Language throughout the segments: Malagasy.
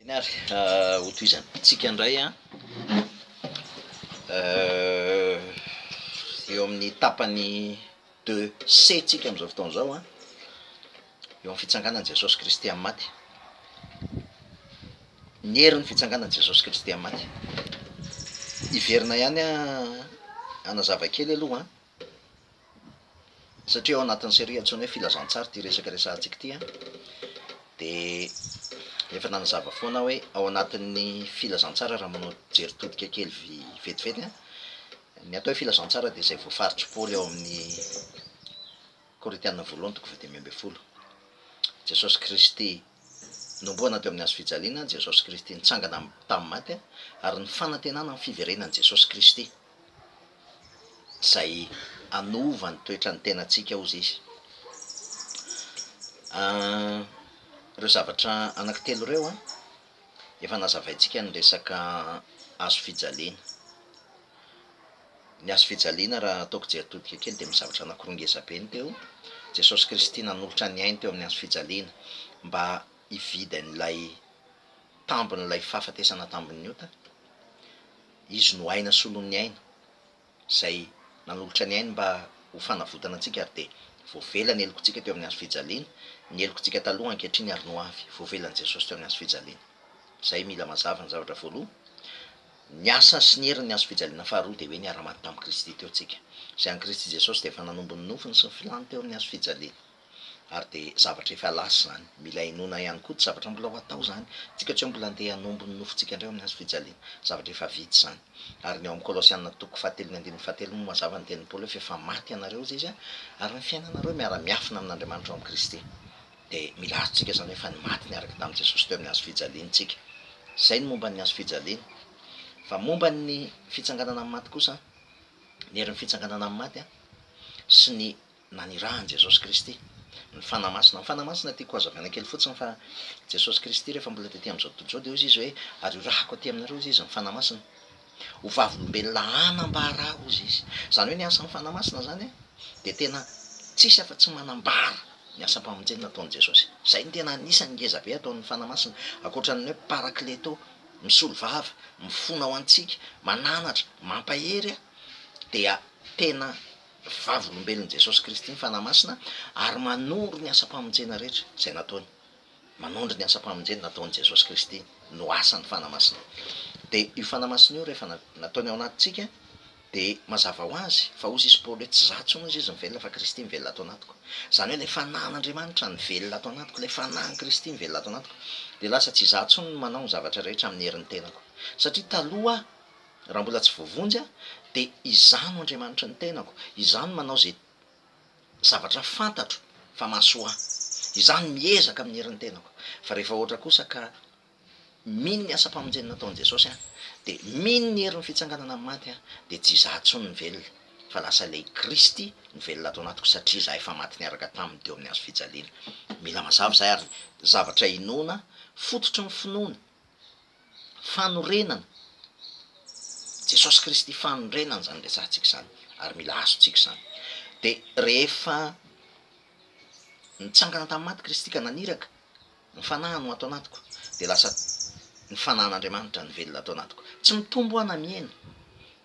Eny ary, hotohizantsika indray an, eo amin'ny tapany deux C tsika amin'izao fotoana izao an, eo amin'ny fitsanganan'i Jesosy Kristy amin'ny maty, ny herin'ny fitsanganan'i Jesosy Kristy amin'ny maty. Hiverina ihany hanazava kely aloha an. Satria ao anatin'ny serie antsoina hoe filazantsara ity resaka resahantsika ity an, dia efa nanazava foana aho hoe ao anatin'ny filazantsara raha manao jery todika kely vetivety an, ny atao hoe filazantsara dia izay voafaritry Paoly ao amin'ny. Korintiana Voalohany toko fahadimy ambin'ny folo Jesosy Kristy Nomboana teo amin'ny hazofijaliana Jesosy Kristy Nitsangana tamin'ny maty Ary ny fanantenana amin'ny fiverenan'i Jesosy Kristy Izay hanova ny toetran'ny tenantsika Hozy Izy Ireo zavatra anankitelo ireo efa nazavaintsika ny resaka hazofijaliana. Ny hazo fijaliana, raha ataoko jery todika kely, dia misy zavatra anankiroa ngeza be no teo. Jesosy Kristy nanolotra ny Ainy teo amin'ny hazo fijaliana mba hividy an'ilay tambin'ilay fahafatesana tambin'ny ota. Izy no Aina solon'ny Aina, izay nanolotra ny Ainy mba ho fanavotana antsika ary dia voavela ny helokontsika teo amin'ny hazo fijaliana. Ny helokontsika taloha, ankehitriny ary ny ho avy, voavelan'i Jesosy teo amin'ny hazo fijaliana. Izay mila mazava ny zavatra voaloha. Ny asa sy ny herin' ny hazofijaliana faharoa dia hoe niara-maty tamin'i Kristy teo tsika, izay an'i Kristy Jesosy dia efa nanombo ny nofiny sy ny filany teo amin'ny hazofijaliana. Ary dia zavatra efa lasa izany. Mila inoana ihany koa, tsy zavatra mbola ho atao izany, tsika tsy hoe mbola handeha hanombo ny nofontsika indray ao amin'ny hazofijaliana. Zavatra efa vita izany. Ary ny ao amin'ny Kolosiana toko fahatelo ny andininy fahatelo moa mazava ny tenin'i Paoly hoe f'efa maty ianareo, hoy izy, ary ny fiainanareo miara-miafina amin'Andriamanitra ao amin'i Kristy. Dia milaza tsika izany hoe fa ny maty niaraka tamin'i Jesosy teo amin'ny hazo fijaliany tsika. Izay ny momba ny hazo fijaliany. Fa momba ny fitsanganana amin'ny maty kosa, ny herin'ny fitsanganana amin'ny maty sy ny nanirahan'i Jesosy Kristy, ny Fanahy Masina. Ny Fanahy Masina tiako hazavaina kely fotsiny fa Jesosy Kristy rehefa mbola tety amin'izao tontolo izao dia hoy izy hoe ary horahako aty aminareo hoy izy ny Fanahy Masina. Ho vavolombelona hanambara ahy, hozy izy. Izany hoe ny asan'ny Fanahy Masina izany dia tena tsisy afa-tsy manambara ny asam-pamonjena nataon'i Jesosy. Izay no tena anisan'ny ngeza be ataon'ny Fanahy Masina, ankoatra ny hoe Parakleto, misolo vava, mifona ho antsika, mananatra, mampahery, dia tena vavolombelon'i Jesosy Kristy ny Fanahy Masina ary manoro ny asam-pamonjena rehetra izay nataony. Manondro ny asam-pamonjena nataon'i Jesosy Kristy no asan'ny fanamasina. Dia io fanamasina io rehefa nataony ao anatintsika dia mazava ho azy fa hozy izy Paoly hoe tsy za intsony hozy izy no velona fa Kristy mivelona ato anatiko. Izany hoe ilay fanan'Andriamanitra nivelona ato anatiko, ilay fanahin'i Kristy mivelona ato anatiko dia lasa tsy izaho intsony no manao ny zavatra rehetra amin'ny herin'ny tenako. Satria taloha aho raha mbola tsy voavonjy aho dia izaho no Andriamanitry ny tenako, izaho no manao izay zavatra fantatro fa mahasoa ahy. Izaho no miezaka amin'ny herin'ny tenako. Fa rehefa ohatra kosa ka mino ny asam-pamonjena nataon'i Jesosy aho, dia mino ny herin'ny fitsanganana amin'ny maty aho, dia tsy izaho intsony no velona, fa lasa ilay Kristy no velona ato anatiko satria izaho efa maty niaraka taminy teo amin'ny hazofijaliana. Mila mazava izay ary zavatra inoana, fototry ny finoana. fanorenana, Jesosy Kristy fanorenana izany resahantsika izany ary mila azontsika izany. Dia rehefa nitsangana tamin'ny maty Kristy ka naniraka, ny fanahiny ho ato anatiko, dia lasa ny fanahin'Andriamanitra nivelona ato anatiko. Tsy mitombo aho na mihena,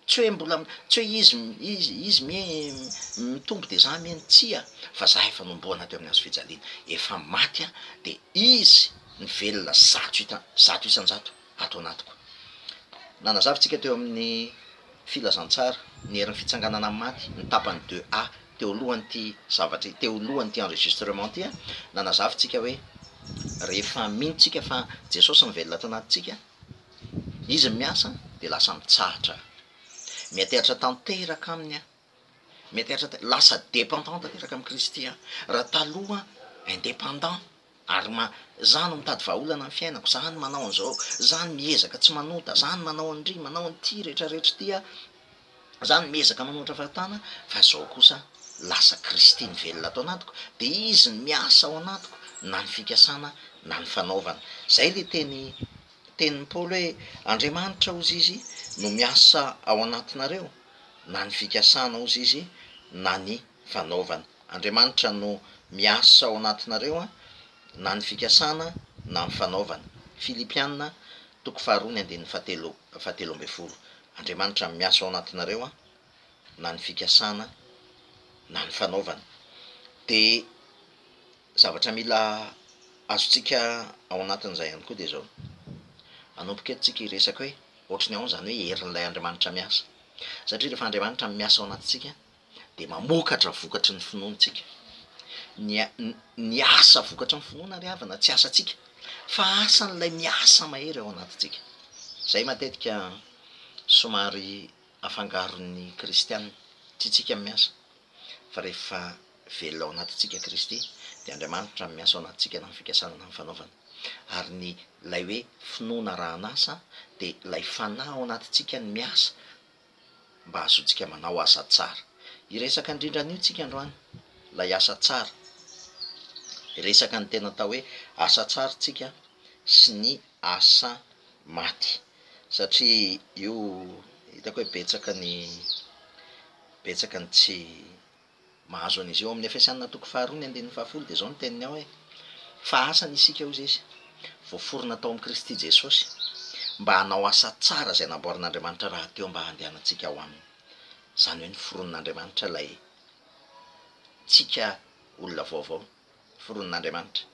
Tsy hoe mbola, tsy hoe izy, izy, izy mie mitombo dia za mie ny tsia, fa za efa nomboana teo amin'ny hazo fijaliana, efa maty aho dia izy ny velona zato ita, zato isan-jato ato anatiko. Nanazavintsika teo amin'ny Filazantsara ny herin'ny fitsanganana amin'ny maty ny tapany deux A teo alohan'ity zavatra, teo alohan'ity enregistrement ity an, nanazavintsika hoe rehefa mino tsika fa Jesosy mivelona ato anatintsika, Izy ny miasa dia lasa mitsahatra aho. Mianteatra tanteraka aminy aho. Mianteatra tan- lasa dépendant tanteraka amin'i Kristy aho. Raha taloha indépendant ary ma- za no mitady vahaolana ny fiainako, za no manao an'izao, za no miezaka tsy manota, za no manao an'ndry, manao an'ity rehetrarehetra ity aho, Zany miezaka manohitra fahatana fa zao kosa lasa Kristy nivelona ato anatiko de izy no miasa ao anatiko na ny fikasana na ny fanaovana. Zay le teny tenin'i Paoly hoe Andriamanitra ozy izy no miasa ao anatinareo na ny fikasana ozy izy na ny fanaovana. Andriamanitra no miasa ao anatinareo an na ny fikasana na ny fanaovana. Filipiana toko faharoa ny andininy fahatelo fahatelo ambin'ny folo Andriamanitra miasa ao anatinareo an, na ny fikasana na ny fanaovana. Dia zavatra mila azontsika ao anatin'izay ihany koa dia izao, hanomboka eto tsika hiresaka hoe ohatry ny ahoana izany hoe herin'ilay Andriamanitra miasa. Satria rehefa Andriamanitra miasa ao anatintsika dia mamokatra vokatry ny finoantsika. Ny ny asa vokatry ny finoana ry havana tsy asantsika fa asan'ilay miasa mahery ao anatintsika. Izay matetika somary afangaron'ny kristiana, tsy tsika no miasa fa rehefa velona ao anatintsika Kristy dia Andriamanitra no miasa ao anatintsika na ny fikasana na ny fanaovana. Ary ny ilay hoe finoana arahan'asa dia ilay fanahy ao anatintsika no miasa, mba hahazoantsika manao asa tsara. Hiresaka indrindra an'io tsika androany, ilay asa tsara. Hiresaka ny tena atao hoe asa tsara tsika sy ny asa maty. Satria io hitako hoe betsaka ny betsaka ny tsy. Mahazo an'izy eo amin'ny Efesiana toko faharoa ny andininy fahafolo dia izao ny teniny ao hoe, Fa asany isika hoy izy, voaforona tao amin'i Kristy Jesosy, mba hanao asa tsara izay namboarin'Andriamanitra rahateo mba handehanantsika ao aminy. Izany hoe noforonin'Andriamanitra ilay ntsika olona vaovao, noforonin'Andriamanitra.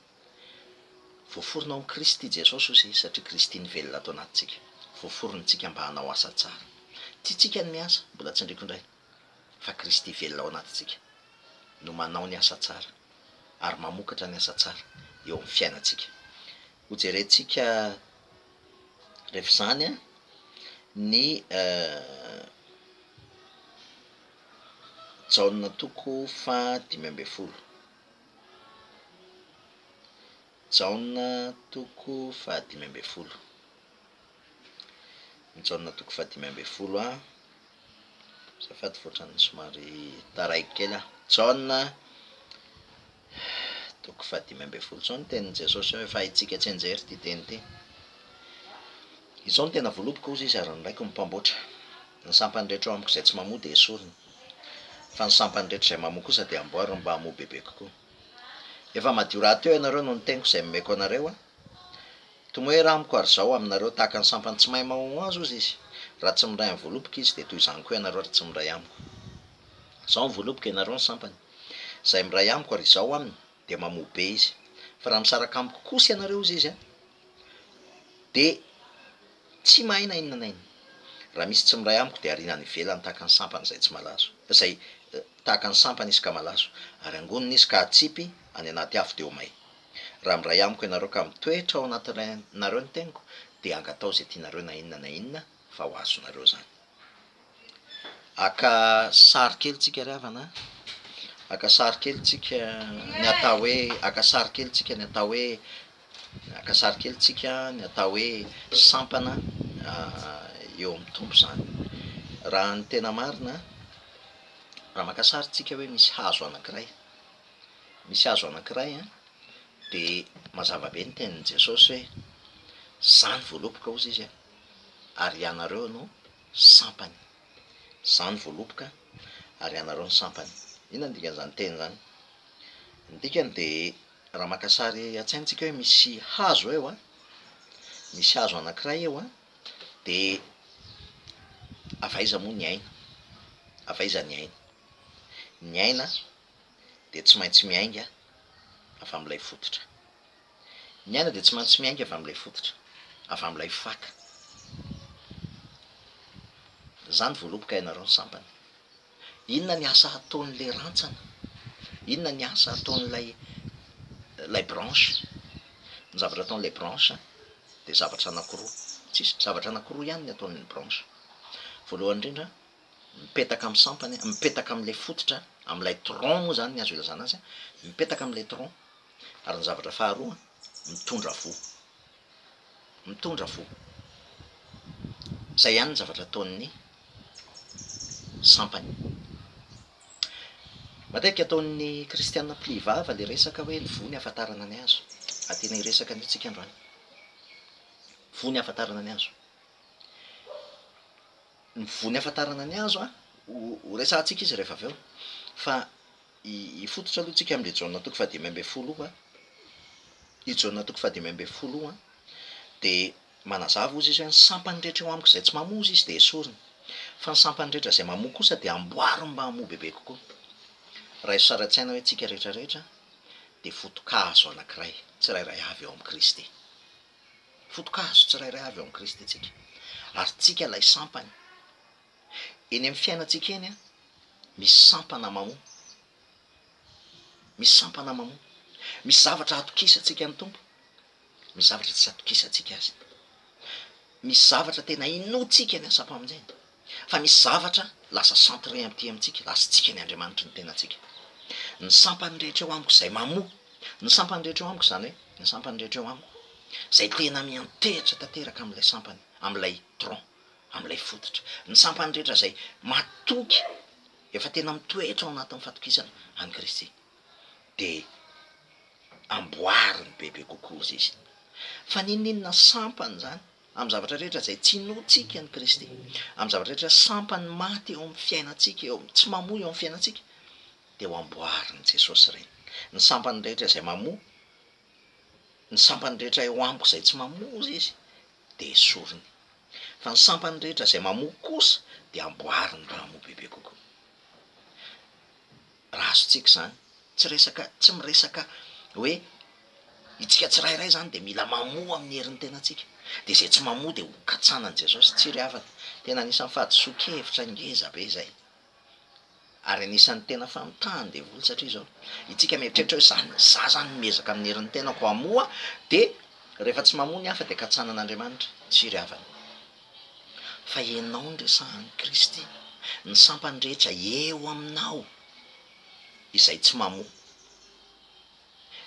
Voaforona ao amin'i Kristy Jesosy hoy izy, satria Kristy nivelona ato anatintsika, voaforonintsika mba hanao asa tsara. Tiantsika ny miasa, mbola tsindriako indray, fa Kristy velona ao anatintsika no manao ny asa tsara ary mamokatra ny asa tsara eo amin'ny fiainantsika. Hojerentsika rehefa izany ny Jaona toko faha dimy ambin'ny folo. Jaona toko faha dimy ambin'ny folo. Jaona toko fahadimy ambin'ny folo a, azafady fa ohatran'ny somary taraiky kely aho. Jaona toko fahadimy ambin'ny folo, izao ny tenin'i Jesosy hoe efa haintsika tsianjery ity teny ity. Izao no tena voaloboka, hoy izy, ary ny Raiko no Mpamboatra. Ny sampany rehetra ao amiko izay tsy mamoa dia esorina, fa ny sampany rehetra izay mamoa kosa dia amboariny mba hamoa bebe kokoa. Efa madio rahateo ianareo noho ny teniko izay nomeko anareo a, Tomoera amiko ary zao aminareo tahaka ny sampany tsy mahay mahohoaz ozy izy. Raha tsy miray amin'ny voaloboka izy dia toy izany koa ianareo raha tsy miray amiko. Zao ny voaloboka ianareo ny sampany. Zay miray amiko ary izao aminy dia mamoa be izy. Fa raha misaraka amiko kosa ianareo ozy izy an! dia tsy mahay na inona na inona. Raha misy tsy miray amiko dia ariana any ivelany tahaka ny sampany izay tsy malazo, izay tahaka ny sampany izy ka malazo, ary angonina izy ka atsipy any anaty afo dia ho may. Raha miray amiko ianareo ka mitoetra ao anatinareo ny teniko dia angataho izay tianareo na inona na inona fa ho azonareo izany. Haka sary kely tsika ry havana a! Haka sary kely tsika ny atao hoe, haka sary kely tsika ny atao hoe, haka sary kely tsika ny atao hoe sampana eo amin'ny Tompo izany. Raha ny tena marina, raha maka sary tsika hoe misy hazo anankiray, misy hazo anankiray an, dia mazava be ny tenin'i Jesosy hoe, Zany voaloboka ozy izy an, ary ianareo no sampany. Zany voaloboka ary ianareo no sampany. Inona ny dikan'izany teny izany? Ny dikany dia raha maka sary an-tsaina tsika hoe misy hazo eo an, misy hazo anankiray eo an, dia avy aiza moa ny aina? Avy aiza ny aina? Ny aina dia tsy maintsy miainga avy amin'ilay fototra. Ny aina dia tsy maintsy miainga avy amin'ilay fototra, avy amin'ilay faka. Izany voaloboka ianareo ny sampany. Inona ny asa ataon'ilay rantsana? Inona ny asa ataon'ilay ilay branche? Ny zavatra ataon'ilay branche dia zavatra anankiroa, tsisy, zavatra anankiroa ihany ny ataon'ny branche. Voalohany indrindra, mipetaka amin'ny sampany, mipetaka amin'ilay fototra, amin'ilay tronc moa izany ny azo ilazana azy, mipetaka amin'ilay tronc, ary ny zavatra faharoa, mitondra voa. Mitondra voa. Izay ihany ny zavatra ataon'ny sampany. Matetika ataon'ny kristiana mpily vava ilay resaka hoe ny voa no ahafantarana ny azy. Ary tena hiresaka an'io isika androany. Voa no ahafantarana ny azy. Ny voa niafatarana ny hazo a! ho resahantsika izy rehefa avy eo. Fa hifototra aloha tsika amin'i Jaona toko fahadimy ambin'ny folo io a! I Jaona toko fahadimy ambin'ny folo io a! dia manazava hozy izy hoe ny sampany rehetra eo amiko izay tsy mamoa hozy izy dia esorina. Fa ny sampany rehetra izay mamoa kosa dia amboariny mba hamoa bebe kokoa. Raiso sary an-tsaina hoe tsika rehetra rehetra dia foto-kazo anankiray tsirairay avy ao amin'i Kristy. foto-kazo tsirairay avy ao amin'i Kristy tsika, ary tsika ilay sampany. Eny amin'ny fiainantsika eny, misy sampana mamoa, misy sampana mamoa, misy zavatra atokisantsika ny Tompo, misy zavatra tsy atokisantsika Azy, misy zavatra tena inoantsika ny asam-pamonjeny. fa misy zavatra lasa centre aty amintsika, lasintsika ny Andriamanitry ny tenantsika. Ny sampany rehetra eo amiko izay mamoa, ny sampany rehetra eo amiko izany hoe, ny sampany rehetra eo amiko izay tena miantehitra tanteraka amin'ilay sampany, amin'ilay tronc, amin'ilay fototra, ny sampany rehetra izay matoky, efa tena mitoetra ao anatin'ny fatokisana an'i Kristy, dia amboariny bebe kokoa izy. Fa n'inon'inona sampany izany, Amin'ny zavatra rehetra izay tsy inoantsika an'i Kristy, amin'ny zavatra rehetra sampan'ny maty eo amin'ny fiainantsika, eo amin'ny tsy mamoa eo amin'ny fiainantsika, dia ho amboarin'i Jesosy ireny. Ny sampan'ny rehetra izay mamoa, ny sampan'ny rehetra eo amiko izay tsy mamoa, hoy Izy, dia esoriny. Fa ny sampan'ny rehetra izay mamoa kosa dia amboariny raha hamoa bebe kokoa. Raha azontsika izany, tsy resaka, tsy miresaka hoe itsika tsirairay izany dia mila mamoa amin'ny herin'ny tenantsika. Dia izay tsy mamoa dia ho katsanan'i Jesosy tsy ry havana. Tena anisan'ny fahadisoan-kevitra ngeza be izay. Ary anisan'ny tena famitahany ny devoly satria izao, itsika mieritreritra hoe za, za izany miezaka amin'ny herin'ny tenako hamoa dia rehefa tsy mamoa ny hafa dia katsanan'Andriamanitra tsy ry havana. fa ianao no resahan'i Kristy, ny sampany rehetra eo aminao izay tsy mamoa,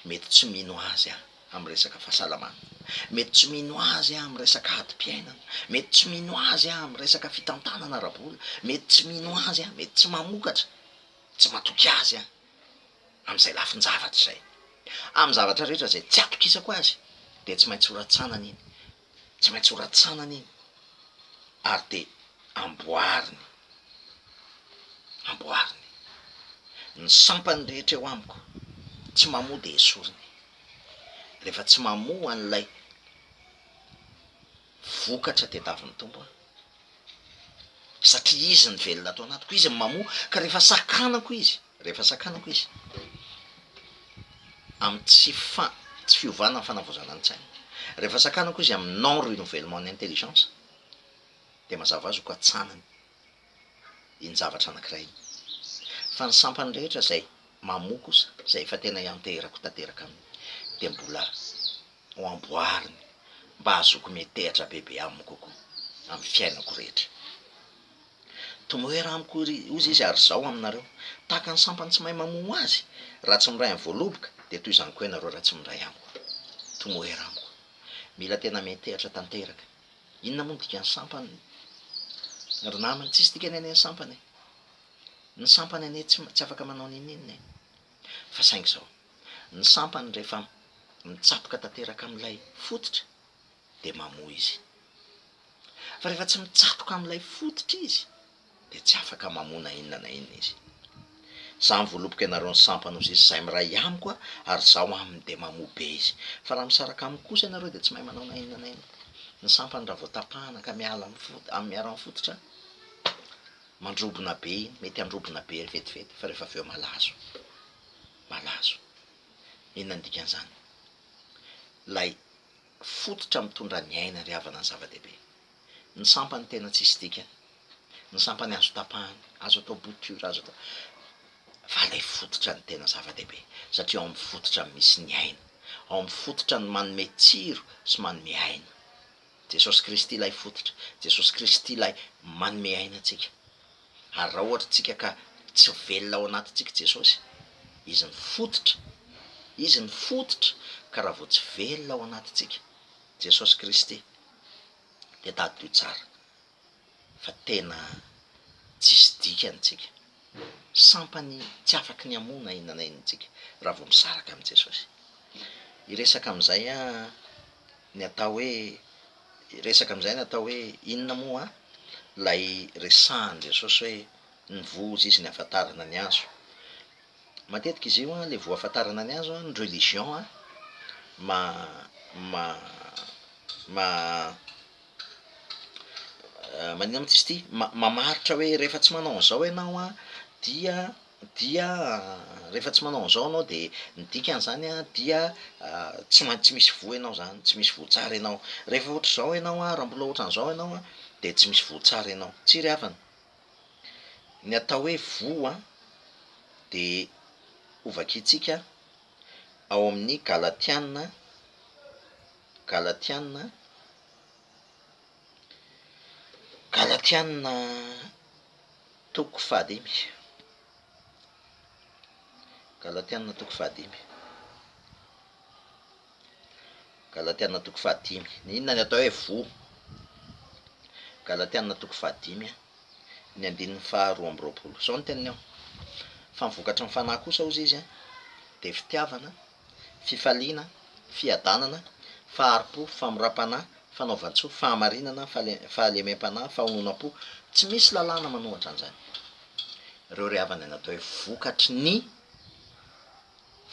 mety tsy mino Azy amin'ny resaka fahasalamana, mety tsy mino Azy amin'ny resaka adim-piainana, mety tsy mino Azy amin'ny resaka fitantanana ara-bola, mety tsy mino Azy, mety tsy mamokatra, tsy matoky Azy amin'izay lafin-javatra izay. Amin'ny zavatra rehetra izay tsy atokisako Azy dia tsy maintsy horatsanany iny. tsy maintsy horatsanany iny ary de amboariny, amboariny, ny sampany rehetra eo amiko tsy mamoa de esoriny, rehefa tsy mamoa an'ilay vokatra tadiavin'ny Tompo aho, satria izy no velona ato anatiko, izy no mamoa ka rehefa sakanako izy Rehefa sakanako izy amin'ny tsy fa- tsy fiovana ny fanavaozana ny tsainy, rehefa sakanako izy amin'ny non renouvellement ny intelligence, dia mazava ho azy hokatsanany iny zavatra anankiray iny. Fa ny sampany rehetra izay mamoa kosa, izay efa tena ianteherako tanteraka aminy, dia mbola ho amboariny mba hahazoako miantehatra bebe aminy kokoa amin'ny fiainako rehetra. Tomoera amiko ry ozy izy ary zao aminareo. Tahaka ny sampany tsy mahay mamono azy, raha tsy miray amin'ny voaloboka dia toy izany koa ianareo raha tsy miray amiko. Tomoera amiko. Mila tena metehatra tanteraka. Inona moa ny dikan'ny sampany ry namana? Tsisy dikany anie ny sampany e! Ny sampany anie tsy tsy afaka manao n'inon'inona e! Fa saingy izao, ny sampany rehefa mitsatoka tanteraka amin'ilay fototra dia mamoa izy. Fa rehefa tsy mitsatoka amin'ilay fototra izy dia tsy afaka mamoa na inona na inona izy. Izaho mivolopoko ianareo ny sampana ho zisy izay miray amiko ary izaho aminy dia mamoa be izy. Fa raha misaraka amiko kosa ianareo dia tsy mahay manao na inona na inona. Ny sampany raha vao tapahana ka miala amin'ny fototra, amin'ny miaro amin'ny fototra, mandrobona be iny, mety handrobona be vetivety fa rehefa avy eo malazo, malazo. Inona ny dikan'izany? Ilay. Fototra mitondra ny aina ry havana ny zava-dehibe. Ny sampany tena tsisy dikany. Ny sampany azo tapahana, azo atao bouture, azo atao. Fa ilay fototra no tena zava-dehibe, satria ao amin'ny fototra no misy ny aina. Ao amin'ny fototra no manome tsiro sy manome aina. Jesosy Kristy ilay fototra. Jesosy Kristy ilay manome aina antsika. araohatr'tsika ka tsy velona ao anatintsika Jesosy, Izy ny fototra, Izy ny fototra ka raha vao tsy velona ao anatintsika Jesosy Kristy dia tadidio tsara fa tena tsisy dikany tsika, sampany tsy afaky ny hamono aina an'aina tsika raha vao misaraka amin'i Jesosy. Hiresaka amin'izay aho ny atao hoe Hiresaka amin'izay ny atao hoe inona moa ilay resahan'i Jesosy hoe ny voa hozy izy ny hahafantarana ny azo. Matetika izy io ilay voa hahafantarana ny azo ny religion maninona moa izy ity mamaritra hoe rehefa tsy manao an'izao ianao dia dia rehefa tsy manao an'izao ianao dia ny dikan'izany dia tsy main tsy misy voa ianao izany, tsy misy voa tsara ianao. Rehefa ohatr'izao ianao, raha mbola ohatr'an'izao ianao dia tsy misy voa tsara ianao. Tsia ry havana? Ny atao hoe voa dia hovakiantsika ao amin'ny Galatiana, Galatiana, Galatiana, Toko fahadimy. Galatiana toko fahadimy. Galatiana toko fahadimy. Ny inona ny atao hoe voa? Galatiana toko fahadimy a, ny andininy faha roa amby roapolo. Zao ny teniny ao, fa ny vokatry ny fanahy kosa hozy izy a, dia fitiavana, fifaliana, fiadanana, fahari-po, famoram-panahy, fanaovan-tsoa, fahamarinana, fahalemem-panahy, fahononam-po, tsy misy lalàna manohatra an'izany. Ireo ry havana dia natao hoe vokatry ny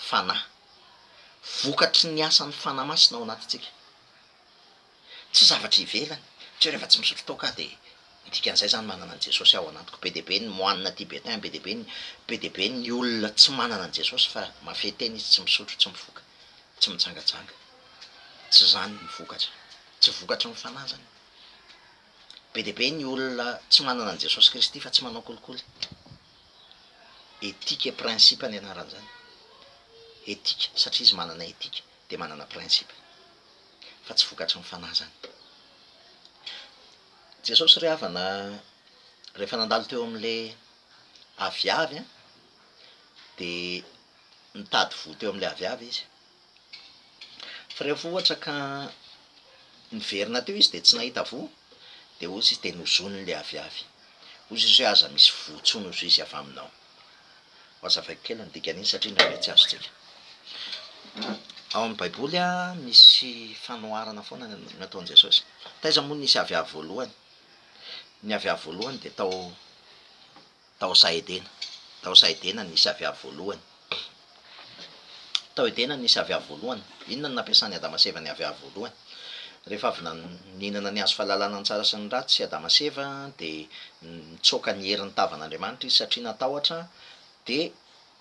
Fanahy, vokatry ny asan'ny Fanahy Masina ao anatintsika. Tsy zavatra ivelany, satria rehefa tsy misotro toaka dia ny dikan'izay izany manana an'i Jesosy ao anatiko, be dia be ny moine tibétain, be dia be ny, be dia be ny olona tsy manana an'i Jesosy fa mahafehy tena izy, tsy misotro, tsy mifoka, tsy mitsangatsanga. Tsy izany ny vokatra, tsy vokatry ny fanahy izany. Be dia be ny olona tsy manana an'i Jesosy Kristy fa tsy manao kolikoly. Éthique et principe ny anaran'izany. Éthique, satria izy manana éthique dia manana principe. fa tsy vokatry ny fanahy izany. Jesosy ry havana rehefa nandalo teo amin'ilay aviavy an, dia nitady voa teo amin'ilay aviavy izy. Fa rehefa ohatra ka niverina teo izy dia tsy nahita voa, dia hozy izy dia nozonin'ilay aviavy. Hozy izy hoe aza misy voa intsony hozy izy avy aminao. Hohazavaiko kely ny dikan'iny satria indraindray tsy azontsika. Ao amin'ny Baiboly misy fanoharana foana ny ataon'i Jesosy. Taiza moa no nisy aviavy voalohany? Ny aviavy voalohany dia tao tao Saha-Edena. Tao Saha-Edena no nisy aviavy voalohany. Tao Edena nisy aviavy voalohany. Inona no nampiasan'i Adama sy Eva ny aviavy voalohany? Rehefa avy nihinana ny hazo fahalalana ny tsara sy ny ratsy i Adama sy Eva dia nitsoaka ny herin'ny tavan'Andriamanitra izy satria natahotra dia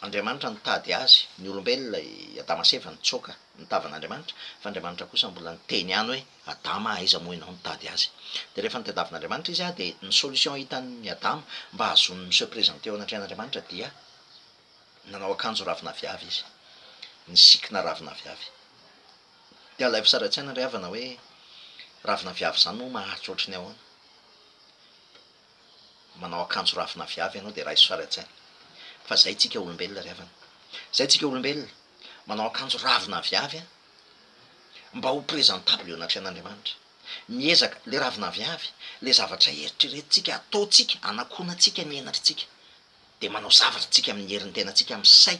Andriamanitra nitady azy. Ny olombelona, i Adama sy Eva, nitsoaka ny tavan'Andriamanitra fa Andriamanitra kosa mbola niteny ihany hoe Adama a aiza moa ianao nitady azy? Dia rehefa nitadavin'Andriamanitra izy dia ny solution hitan'i Adama mba hahazoany miseho presenter eo anatrehan'Andriamanitra dia Nanao akanjo ravin'aviavy izy. Nisikina ravin'aviavy. Dia alaivo sary an-tsaina ry havana hoe ravin'aviavy izany moa maharitra ohatry ny ahoana. Manao akanjo ravin'aviavy ianao dia raiso sary an-tsaina. Fa izay isika olombelona ry havana. Izay isika olombelona. Manao akanjo ravin'aviavy an! Mba ho presentable eo anatrehan'Andriamanitra. Miezaka, ilay ravin'aviavy, ilay zavatra eritreretintsika, ataontsika, anakoanantsika ny henatritsika. dia manao zavatra tsika amin'ny herin'ny tenantsika amin'ny say,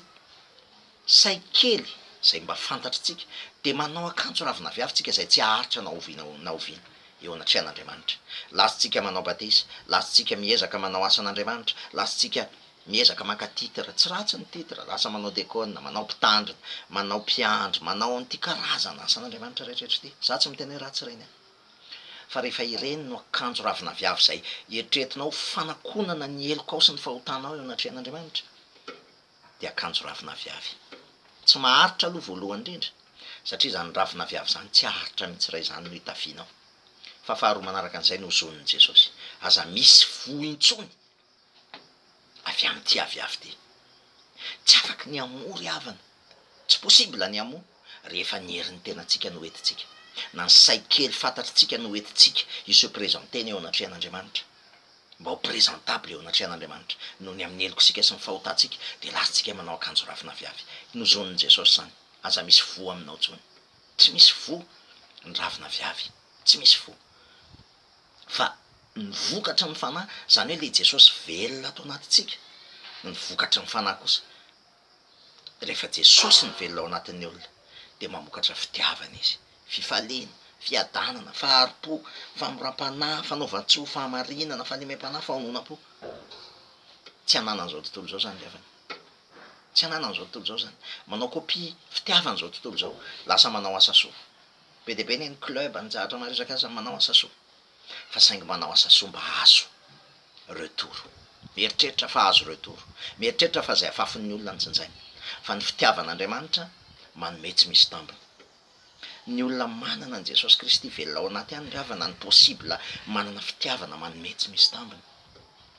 say kely izay mba fantatritsika, dia manao akanjo ravin'aviavy tsika izay tsy haharitra na oviana na oviana eo anatrehan'Andriamanitra. Latsitsika manao batisa, latsitsika miezaka manao asan'Andriamanitra, latsitsika miezaka maka titre, tsy ratsy ny titre, lasa manao dekona, manao mpitandrina, manao mpiandry, manao an'ity karazana asan'Andriamanitra rehetra rehetra ity, za tsy miteny hoe ratsy ireny an! Fa rehefa ireny no akanjo ravin'aviavy izay eritreretinao ho fanakonana ny helokao sy ny fahotanao eo anatrehan'Andriamanitra, dia akanjo ravin'aviavy. Tsy maharitra aloha voalohany indrindra, satria izany ravin'aviavy izany tsy haharitra mihitsy raha izany no hitafianao. Fa faharoa manaraka an'izay no hozonin'i Jesosy, Aza misy voa intsony avy amin'ity aviavy ity. Tsy afaka ny hamoa ry havana, tsy possible ny hamoa rehefa ny herin'ny tenantsika no entintsika, na ny sahy kely fantatritsika no entintsika hi se presenter-ny eo anatrehan'Andriamanitra, mba ho presentable eo anatrehan'Andriamanitra, noho ny amin'ny helok'sika sy ny fahotantsika dia lasantsika manao akanjo ravin'aviavy. Nozonin'i Jesosy izany, aza misy voa aminao intsony. Tsy misy voa ny ravin'aviavy, tsy misy voa. fa ny vokatry ny Fanahy, izany hoe ilay Jesosy velona ato anatintsika, ny vokatry ny Fanahy kosa, rehefa Jesosy no velona ao anatin'ny olona dia mamokatra fitiavana izy, fifaliana, fiadanana, fahari-po, famoram-panahy, fanaovan-tsoa, fahamarinana, fahalemem-panahy, fahononam-po. Tsy ananan'izao tontolo izao izany ry havana, tsy ananan'izao tontolo izao izany. Manao kopia fitiavan'izao tontolo izao, lasa manao asa soa, Be dia be ny an'ny club any Jahatra maresaka aza ny manao asa soa fa saingy manao asa soa mba azo retour. Mieritreritra fa azo retour. Mieritreritra fa izay afafin'ny olona no jinjaina. Fa ny fitiavan'Andriamanitra manome tsy misy tambiny. Ny olona manana an'i Jesosy Kristy velona ao anaty any ngavana no possible manana fitiavana manome tsy misy tambiny.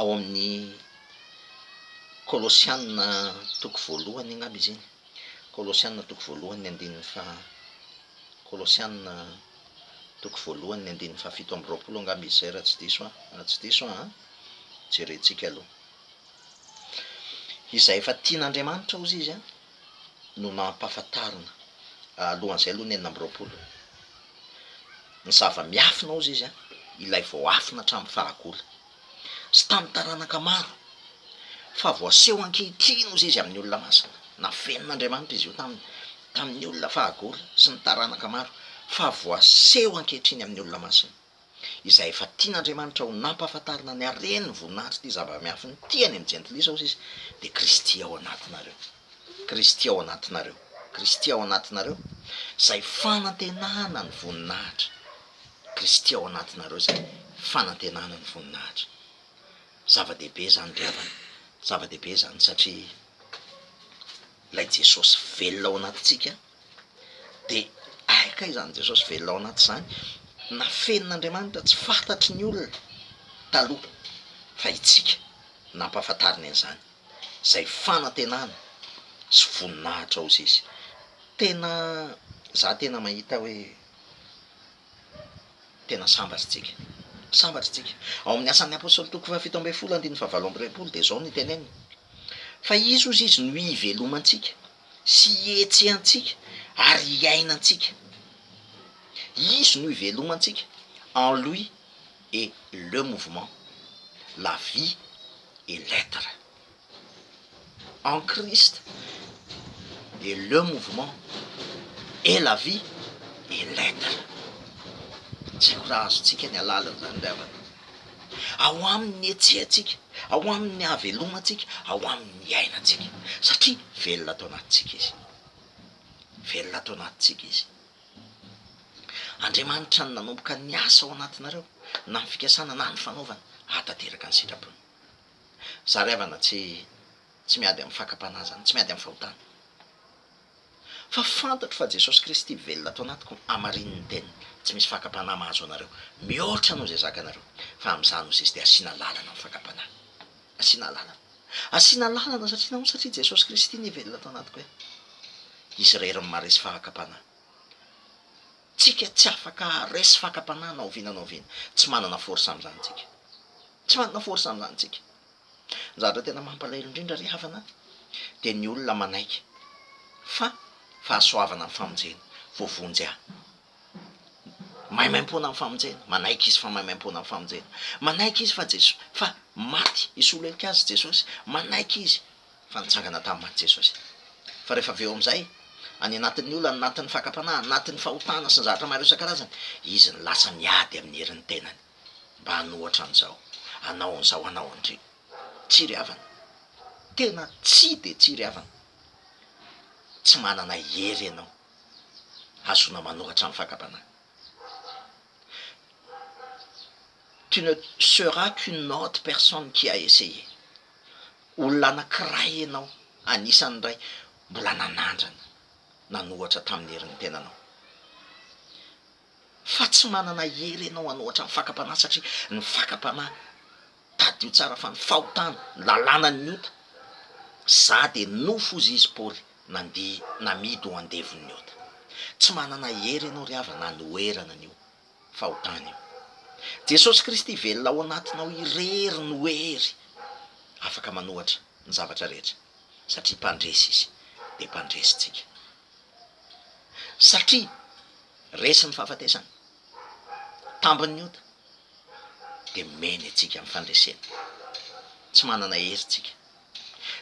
ao amin'ny Kolosiana toko voalohany angamba izy iny, Kolosiana toko voalohany ny andininy faha, Kolosiana toko voalohany ny andininy fahafito amby roapolo angamba izy izay raha tsy diso aho, raha tsy diso aho an, jerentsika aloha. Izay efa tian'Andriamanitra hozy izy an, no nampahafantarina alohan'izay aloha ny enina amby roapolo, ny zava-miafina hozy izy an, ilay voaafina hatramin'ny fahagola sy tamin'ny taranaka maro, fa voaseho ankehitriny hozy izy amin'ny olona masina, nafenin'Andriamanitra izy io taminy, tamin'ny olona fahagola sy ny taranaka maro, fa voaseho ankehitriny amin'ny olona masina. izay efa tian'Andriamanitra ho nampahafantarina ny haren'ny voninahitr'ity zava-miafin'ny tiany amin'ny jentilisa, hoy izy, dia Kristy ao anatinareo. Kristy ao anatinareo. Kristy ao anatinareo, izay fanantenana ny voninahitra. Kristy ao anatinareo izay fanantenana ny voninahitra. Zava-dehibe izany ry havana. Zava-dehibe izany satria ilay Jesosy velona ao anatintsika, Dia hay kay izany Jesosy velona ao anatin'izany, nafenin'Andriamanitra tsy fantatry ny olona taloha fa itsika no ampahafantariny an'izany, izay fanantenana sy voninahitra ozy izy. Tena za tena mahita hoe tena sambatra tsika, sambatra tsika. Ao amin'ny asan'ny apostoly toko fahafito ambin'ny folo andininy fahavalo amby roapolo dia izao no teneniny, fa izy ozy izy no hivelomantsika, sy ihetsehantsika ary iainantsika. Izy no ivelomantsika, en lui est le mouvement, la vie et l'etre. En Christ est le mouvement et la vie et l'etre. Tsy haiko raha azontsika ny alalan'izany ry havana. ao aminy ny hetsehantsika, ao aminy ny havelomantsika, ao aminy ny iainantsika, satria velona ato anatintsika izy, velona ato anatintsika izy. Andriamanitra no nanomboka ny asa ao anatinareo, na ny fikasana na ny fanaovana hahatanteraka ny sitrapony. Zary havana tsy tsy miady amin'ny fakam-panahy zany, tsy miady amin'ny fahotana. Fa fantatro fa Jesosy Kristy velona ato anatiko hamarinin'ny teniny. Tsy misy fakam-panahy mahazo anareo mihoatra noho izay zakanareo, fa amin'izany no sisa dia hasiana lalana ny fakam-panahy. Hasiana lalana. Hasiana lalana satria nahoana? Satria Jesosy Kristy anie velona ato anatiko e! Izy irery no maharesy fakam-panahy. Tsika tsy afaka haharesy fakam-panahy na oviana na oviana. Tsy manana force amin'izany tsika. Tsy manana force amin'izany tsika. Ny zavatra tena mampalahelo indrindra ry havana dia ny olona manaiky fa fahasoavana ny famonjena, voavonjy ahy. Maimaimpoana amin'ny famonjena, manaiky izy fa maimaimpoana amin'ny famonjena. Manaiky izy fa Jesosy, fa maty hisolo heloka azy Jesosy, manaiky izy fa nitsangana tamin'ny maty Jesosy. Fa rehefa avy eo amin'izay, any anatin'ny olana, anatin'ny fakam-panahy, anatin'ny fahotana sy ny zavatra maro isan-karazany, izy no lasa miady amin'ny herin'ny tenany. mba hanao ohatran'izao, hanao an'izao, hanao an'ireo. Tsy ry havana. Tena tsy dia tsy ry havana. Tsy manana hery ianao hahazoana manoratra ny fakam-panahy. Tu ne seras qu'une autre personne qui a essayé. Olona anankiray ianao, anisan'ny iray mbola nanandrana nanoratra tamin'ny herin'ny tenanao. fa tsy manana hery ianao an'ohatran'ny fakam-panahy satria ny fakam-panahy tadidio tsara fa ny fahotana ny lalànan'ny ota za dia nofy hozy izy paoly nandihy namidy ho andevon'ny ota tsy manana hery ianao ry havana anoherana an'io fahotana io jesosy kristy velona ao anatinao irery no hery afaka manohatra ny zavatra rehetra satria mpandresy izy dia mpandresy tsika satria resy ny fahafatesana, tambiny ny ota, dia mena itsika amin'ny fandresena. Tsy manana hery tsika.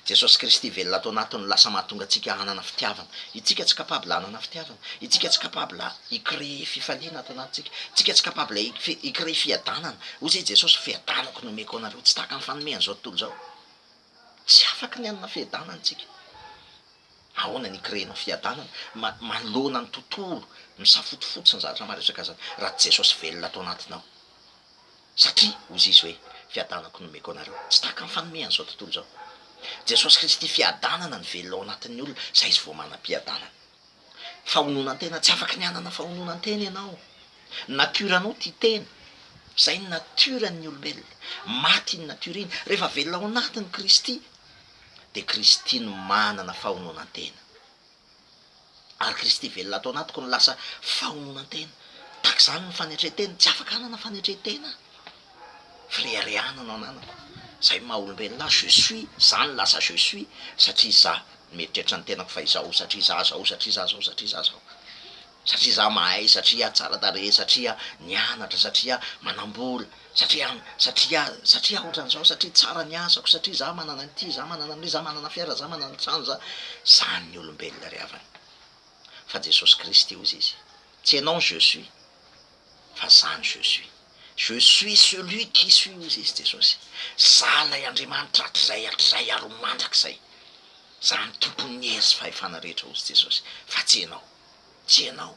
Jesosy Kristy velona ato anatiny lasa mahatonga antsika hanana fitiavana. Itsika tsy capable hanana fitiavana. Itsika tsy capable hi-creer fifaliana ato anatintsika. Itsika tsy capable hi-creer fiadanana. Hoy izay Jesosy, fiadanako no omeko anareo. Tsy tahaka ny fanomehan'izao tontolo izao. Tsy afaka ny hanana fiadanana itsika. Ahoana ny hikirehenao fiadanana manoloana ny tontolo misafotofoto sy ny zavatra maro isan-kazany raha tsy Jesosy velona ato anatinao? Satria hoy Izy hoe, Fiadanako no omeko anareo. Tsy tahaka ny fanomeny izao tontolo izao. Jesosy Kristy fiadanana no velona ao anatin'ny olona, izay izy vao manam-piadanana. Fahononan-tena, tsy afaka ny hanana fahononan-tena ianao. Natiora anao tia tena. Izay ny natiora ny olombelona. Maty iny natiora iny. Rehefa velona ao anatin'i Kristy. dia Kristy no manana fahononan-tena. Ary Kristy velona ato anatiko no lasa fahononan-tena. Tahaka izany ny fanetren-tena. Tsy afaka hanana fanetren-tena aho. Fireharehana no ananako. Izay maha olombelona ahy, je suis, za no lasa je suis, satria za no mieritreritra ny tenako fa izaho, satria za zao, satria za zao, satria za zao. satria za mahay, satria tsara tarehy, satria nianatra, satria manambola, satria, satria, satria ohatran'izao, satria tsara ny asako, satria za manana an'ity, za manana an'io, za manana fiara, za manana trano, za. Zany ny olombelona ry havana. Fa Jesosy Kristy hozy izy, tsy ianao ny je suis, fa za ny je suis. Je suis celui qui suis hozy izy Jesosy. Za ilay Andriamanitra hatrizay, hatrizay ary ho mandrakizay. Za ny Tompon'ny hery sy fahefana rehetra hozy Jesosy, fa tsy ianao. tsy ianao,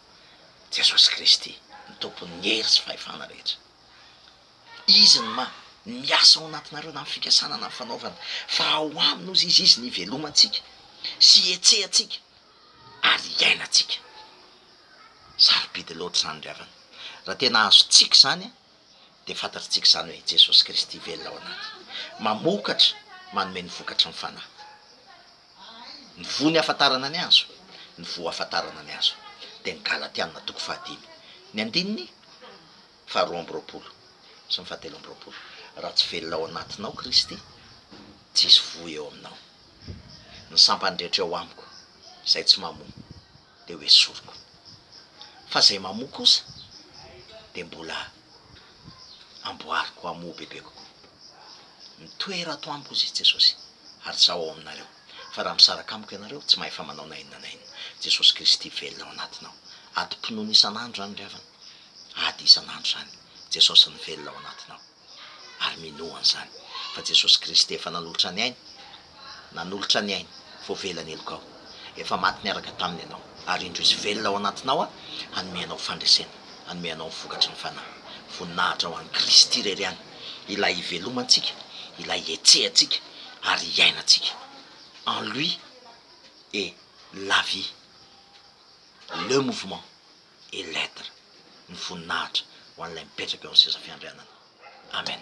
Jesosy Kristy ny Tompon'ny hery sy fahefana rehetra. Izy no ma, miasa ao anatinareo na ny fikasana na ny fanaovana, fa ao aminy ozy izy, izy no ivelomantsika sy ihetsehantsika ary iainantsika. Sarobidy loatra izany ry havana. Raha tena azontsika izany, dia fantatr'tsika izany hoe Jesosy Kristy velona ao anaty, mamokatra, manome ny vokatry ny Fanahy. Ny voa ny hafantarana ny hazo, ny voa hafantarana ny hazo dia ny Galatiana toko fahadimy, ny andininy faharoa amby roapolo sy ny fahatelo amby roapolo, raha tsy velona ao anatinao Kristy, tsy hisy voa eo aminao. Ny sampany rehetra eo amiko, izay tsy mamoa, dia ho esoriko. Fa izay mamoa kosa dia mbola amboariko hamoa bebe kokoa. Mitoera ato amiko, hoy Jesosy, ary Izaho ao aminareo. Fa raha misaraka amiko ianareo, tsy mahefa manao na inona na inona. Jesosy Kristy velona ao anatinao. Adim-pinoana isan'andro izany ry havana. Ady isan'andro izany. Jesosy ny velona ao anatinao. ary minoa an'izany fa Jesosy Kristy efa nanolotra ny ainy, nanolotra ny ainy, voavela ny helokao, efa maty niaraka taminy ianao, ary indro izy velona ao anatinao hanome anao fandresena, hanome anao ny vokatry ny Fanahy, voninahitra ho an'i Kristy irery ihany, Ilay hivelomantsika, Ilay hihetsehantsika ary hiainantsika, en Lui est la vie, le mouvement. et lettres ny voninahitra ho an'ilay mipetraka eo amin'ny seza fiandrianana. Amen.